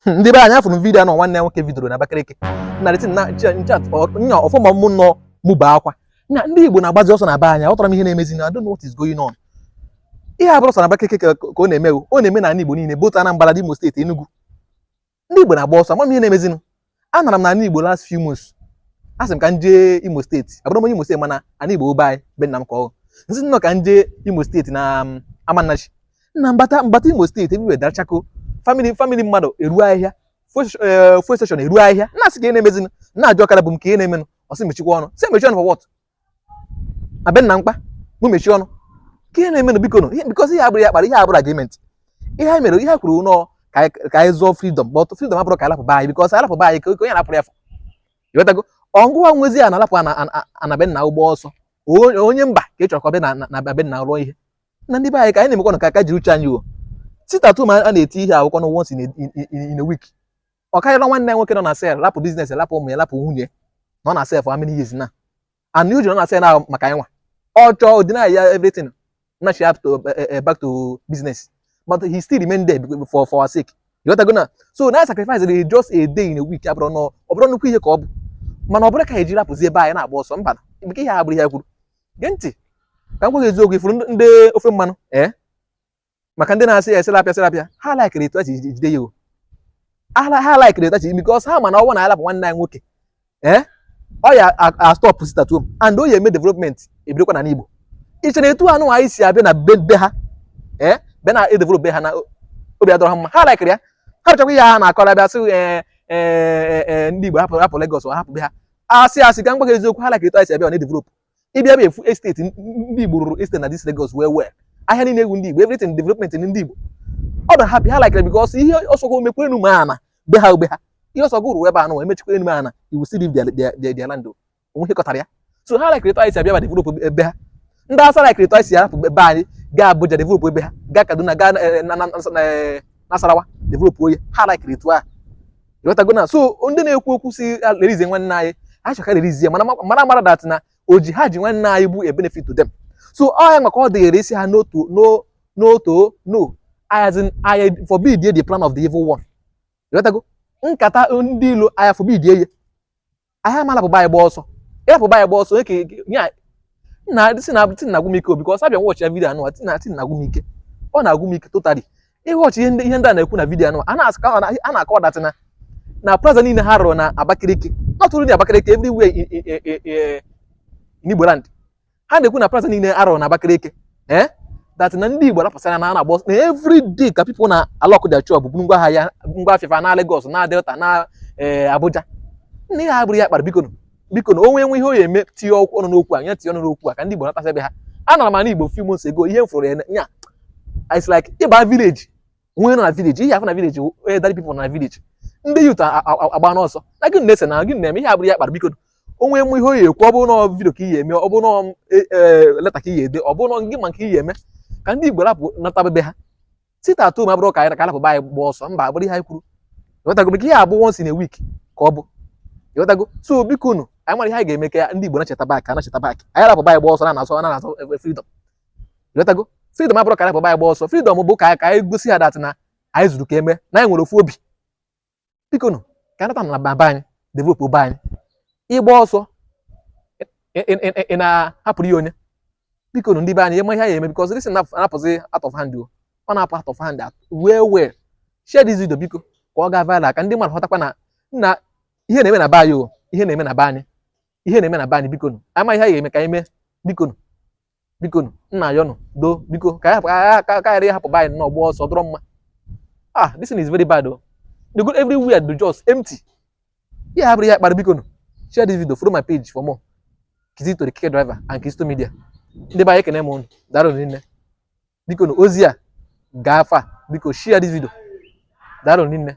hmm, ndị be anyị afụrụ vidiyo nọ nwanne nwoke vidoro na Abakaliki narịtị na nchat nya ọfụma mụ nọ mụ ebe akwa na ndị Igbo na-agbazi ọsọ na be anyị aghọtarọ m ihe na-emezinụ I don't know what is going on ihe a abụrọ sọ na Abakaliki ka ọ na-eme ọ na-eme na ala Igbo niile both Anambra Imo steeti Enugu ndị Igbo na-agba ọsọ ama m ihe na-emezinụ anara m na ala Igbo last few months asị m ka m jee Imo steeti abụrọ m onye Imo steeti mana ala Igbo ọ be anyị be nna m ka ọ m sị nnọọ ka m jee Imo steeti na um, Amanachi na mbata mbata Imo steeti everywhere dara chakoo family family mmadụ eruo ahịhịa fuel eh, station eruo ahịhịa na-asị kee ihe na-emezi na-ajụ ọkada bu m kee ihe na-emenụ ọ sị m mechikwaa ọnụ sị m mechie ọnụ for what na be nna m kwa mụ mechie ọnụ kee ihe na-emenụ biko nụ because ihe a abụrọ ihe a kpara ihe a abụrọ agreement ihe anyị mere ihe e kwuru nọọ ka anyị zọọ freedom but freedom abụrọ ka anyị lapụ be anyị because anyị lapụ be anyị ka onye lapụrụ ya fụ ịghọtago ọ ngụwa nwezi ana alapụ ana be nna gụ gbaa ọsọ onye mba ka ị chọrọ ka ọ bịa na be nna rụọ ihe na ndị be anyị ka anyị na-emekwanụ ka aka jiri uche anyị o sit at home a a na-eti ihe e kwukwa na ọ wụ once in a week ọ karịrọ nwanne anyị nwoke nọ na cell rapụ business rapụ ụmụ ya rapụ nwunye nọ na cell for how many years now and o ji nọ na cell ahụ maka anyịnwa ọ chọọ ọ deny ya everything na she have to eh, eh, eh, back to business but he still remain there for for our sake ịghọtago na so na sacrifice dey just a day in a week abụrọ na ọ bụrụ nnukwu ihe ka ọ bụ mana ọ bụrọ ka e jiri apụzi ebe anyị na-agba ọsọ mba nke ihe a abụrọ ihe e kwuru gee ntị ka m gwa gị eziokwu ị fụrụ ndị ofe mmanụ ee maka ndị na-asị ya e sị lapụ ya sị lapụ ya ha laikiri etu e ji jide ya o ha ha laikiri etu e ji because ha ma na ọ wụ na a lapụ nwanne anyị nwoke ee ọ ya-astọpụ sit at home and ọ ya-eme development ebidokwa na Igbo ị che na etu anụ anyị si abịa na be be ha ee be na-edevelop be ha na obi adịrọ ha mma ha laikiri ya hapụchakwa ihe ha na-akọrọ abịa sị ee ee ndị Igbo hapụ hapụ Lagos hapụ be ha asị asị ka m gwa gị eziokwu ha laikiri etu anyị si abịa ọ na-edevelop ị bịa bịa fụ estate ndị Igbo rụrụ estate na this Lagos well well ahịa niile ọ wụ ndị Igbo everything development ndị Igbo ọ na happy ha likere because ihe ọ sọ gị mekwaa enu ma ana be ha ọ be ha ihe ọ sọ gị rụrụ ebe anụ e mechakwaa enu ma ana iwu sị leave their land o nwe ihe kọtara ya so ha likere etu anyị si abịa ba develop ebe ha ndị Awụsa likere etu anyị si arapụ ebe anyị gaa Abuja develop ebe ha gaa Kaduna gaa eh, eh, Nasarawa develop nye ha likere etu ahụ ịghọtago na so ndị na-ekwu okwu sị release nwanne anyị ha chọ ka a release ya mana mara mara that na oji ha ji nwanne anyị bụ a benefit to them so ọ ya maka ọ dịghịrị isi ha n'otu n'otu no as in I forbid the plan of the evil one ịghọtago nkata ndị ilo aya forbid ye anyị ama lapụ be anyị gbaa ọsọ ị lapụ be anyị gbaa ọsọ eke ya nna sị na thing na-agwụ m ike because a bịa wọchịa vidiyo anụwa thing na thing na-agwụ m ike ọ na-agwụ m ike totally ịwọchị ihe ndị ihe ndị a na-ekwu na vidiyo anụwa a na-asụka a na-akọ that na na plaza niile ha rụrụ na Abakaliki not only Abakaliki everywhere in in in in in Igboland ha na-ekwu na plaza niile a rụrụ na Abakaliki eh that na ndị Igbo rapụsara na na-agba na every day ka people na-alock their shop buru ngwa ahịa ngwa afịa fa naa Lagos na Delta na eh, Abuja nna ihe a abụrọ ya kpara biko biko na onye nwe ihe ọ ya-eme tinye ọkụ ọnụ n'okwu a ya tinye ọnụ n'okwu a ka ndị Igbo natasịa be ha anara m ana Igbo few months ago ihe m fụrụ n'anya it's like ị baa village onye nọ na village ihe fọ na village only elderly people na village ndị youth agbana ọsọ na gị na-ese na gị na-eme ihe a abụrọ ya kpara biko onye nwe ihe ọ ya-ekwu ọ bụrụ na video ka ị ya-eme ọ bụrụ na e, e, leta ka ị ya-ede ọ bụrụ na gị ma nke ị ya-eme ka ndị igbo rapụ nataba be ha sit at home abụrọ ka anyị ka arapụ be anyị gbaa ọsọ mba abụrọ ihe anyị kwuru ịghọtago biko ihe a bụ once in a week ka ọ bụ ịghọtago so biko nụ anyị mara ihe anyị ga-eme ka ndị igbo nachita back a nachita back anyị rapụ be anyị gbaa ọsọ na-azọ na-azọ freedom ịghọtago freedom abụrọ ka anyị pụba agba ọsọ freedom bụ ka ka anyị gosi ha that na anyị zuru ka eme na anyị nwere ofu obi biko nụ ka anyị nataba be anyị developuo be anyị ị gbaa ọsọ ị na-ahapụrụ ya onye biko nụ ndị be anyị eme ihe a ya-eme because this na-apụzi out of hand ọ na-apụ out of hand wee wee share this video biko ka ọ gaa viral ka ndị mmadụ hụtakwa na nna ihe na-eme na be anyị o ihe na-eme na be anyị ihe na-eme na be anyị biko nụ a ma ihe anyị ga-eme ka anyị mee biko nụ biko m na-ayọ ụnụ do biko ka anyị ka ghara ịhapụ be anyị na-agba ọsọ ọ dịrọ mma ah this thing is very bad o oh. the good everywhere dị just empty ihe a abụrọ ya kpara biko nụ share this video follow my page for more kizito the keke driver and kizito media ndị be anyị ekene m ụnụ daalụ rinne biko nụ ozi a gaa far biko share this video daalụ rinne